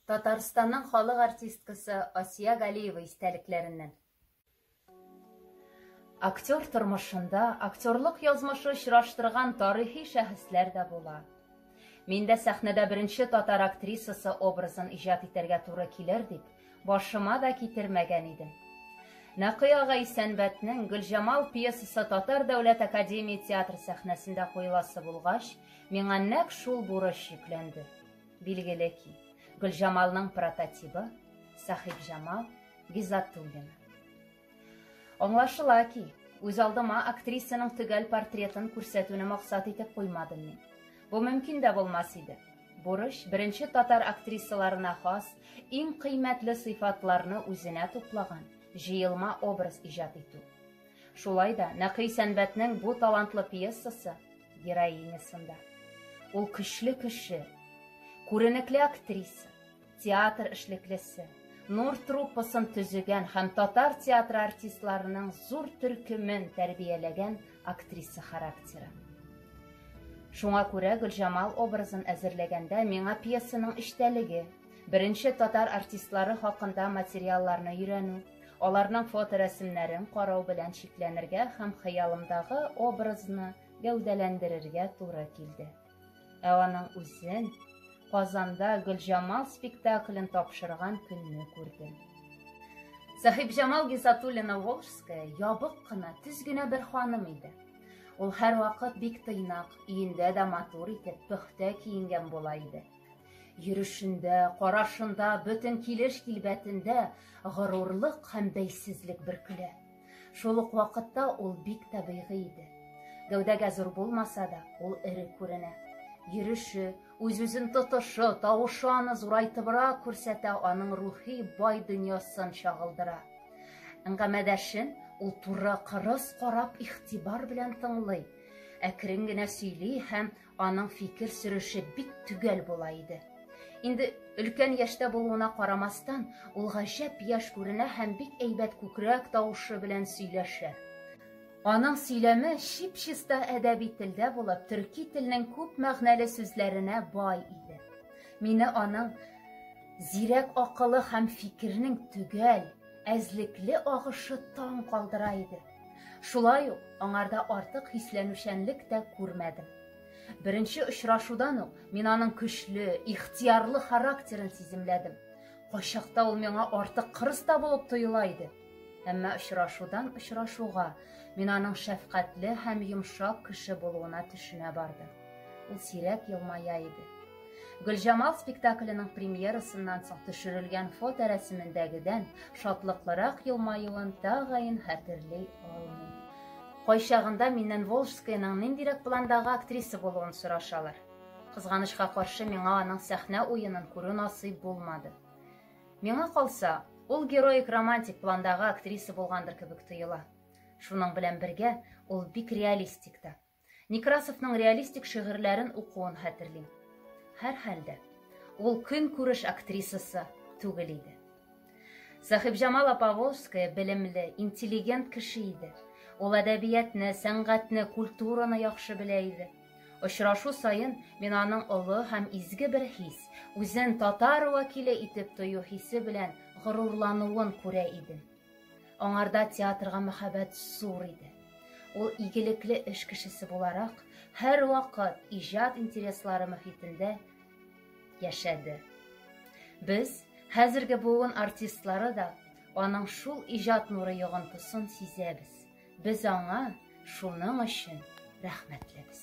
Татарстанның халык артисткасы Асия Галиева истәлекләреннән. Актер тормышында актерлык язмышы очраштырган тарихи шәхесләр дә була. Мин дә сәхнәдә беренче татар актрисасы образын иҗат итәргә туры килер дип, башыма да китермәгән идем. Нәкый ага Исәнбәтнең Гөлҗамал пьесасы Татар дәүләт академия театр сәхнәсендә куеласы булгач, миңа нәк шул бурыч йөкләнде. Билгеле ки, Гөлҗамалның прототибы Сахибҗамал Гизатуллина. Аңлашыла ки, үз алдыма актрисаның төгәл портретын күрсәтүне максат итеп куймадым мин. Бу мөмкин дә булмас иде. Бурыч беренче татар актрисаларына хас иң кыйммәтле сыйфатларны үзенә туплаган җыелма образ иҗат итү. Шулай да Нәкый Сәнбәтнең бу талантлы пьесасы героинясында. Ул көчле кеше, күренекле актриса, театр эшлеклесе, Нур труппасын төзегән һәм татар театры артистларының зур төркемен тәрбияләгән актриса характеры. Шуңа күрә Гөлҗамал образын әзерләгәндә миңа пьесаның эчтәлеге, беренче татар артистлары хакында материалларны өйрәнү, Аларның фоторәсемнәрен карау белән чикләнергә һәм хыялымдагы образны гәүдәләндерергә туры килде. Ә аның үзен Казанда Гөлҗамал спектаклен тапшырган көнне күрдем. Сәхибҗамал Гизатуллина Волжская ябык кына, төз генә бер ханым иде. Ул һәрвакыт бик тыйнак, өендә дә матур итеп, пөхтә киенгән була иде. Йөрешендә, карашында, бөтен килеш-килбәтендә горурлык һәм бәйсезлек бөркелә. Шул ук вакытта ул бик табигый иде. Гәүдәгә зур булмаса да, ул эре күренә. Йөреше, үз-үзен тотышы, тавышы аны зурайтыбрак күрсәтә, аның рухи бай дөньясын чагылдыра. Әңгәмәдәшен ул туры кырыс карап игътибар белән тыңлый әкрен генә сөйли һәм Аның фикер сөреше бик төгәл була иде. Инде өлкән яшьтә булуына карамастан, ул гаҗәп яшь күренә һәм бик әйбәт күкрәк тавышы белән сөйләшә. Аның сөйләме чип-чиста әдәби телдә булып, төрки телнең күп мәгънәле сүзләренә бай иде. Мине аның зирәк акылы һәм фикернең төгәл, әзлекле агышы таң калдыра иде. Шулай ук аңарда артык хисләнүчәнлек тә күрмәдем. Беренче очрашудан ук мин аның көчле, ихтиярлы характерын сиземләдем. Кайчакта ул миңа артык кырыс та булып тоела иде. Әмма очрашудан очрашуга мин аның шәфкатьле һәм йомшак кеше булуына төшенә бардым. Ул сирәк елмая иде. Гөлҗамал спектакленең премьерасыннан соң төшерелгән фото рәсемендәгедән шатлыклырак елмаюын тагын хәтерли алмый. Кайчагында миннән Волжскаяның ниндирәк пландагы актриса булуын сорашалар. Кызганычка каршы, миңа аның сәхнә уенын күрү насыйп булмады. Миңа калса, ул героик романтик пландагы актриса булгандыр кебек тоела. Шуның белән бергә, ул бик реалистик та. Некрасовның реалистик шигырьләрен укуын хәтерлим. Һәр хәлдә, ул көн күреш актрисасы түгел иде. Сәхибҗамала Поволжская белемле, интеллигент кеше иде. Ул әдәбиятны, сәнгатьне, культураны яхшы белә иде. Очрашу саен мин аның олы һәм изге бер хис, үзен татар вәкиле итеп тою хисе белән горурлануын күрә идем. Аңарда театрга мәхәббәт зур иде. Ул игелекле эш кешесе буларак, һәрвакыт иҗат интереслары мөхитендә яшәде. Без, хәзерге буын артистлары да, аның шул иҗат нуры йогынтысын сизәбез. Без аңа шуның өчен рәхмәтлебез.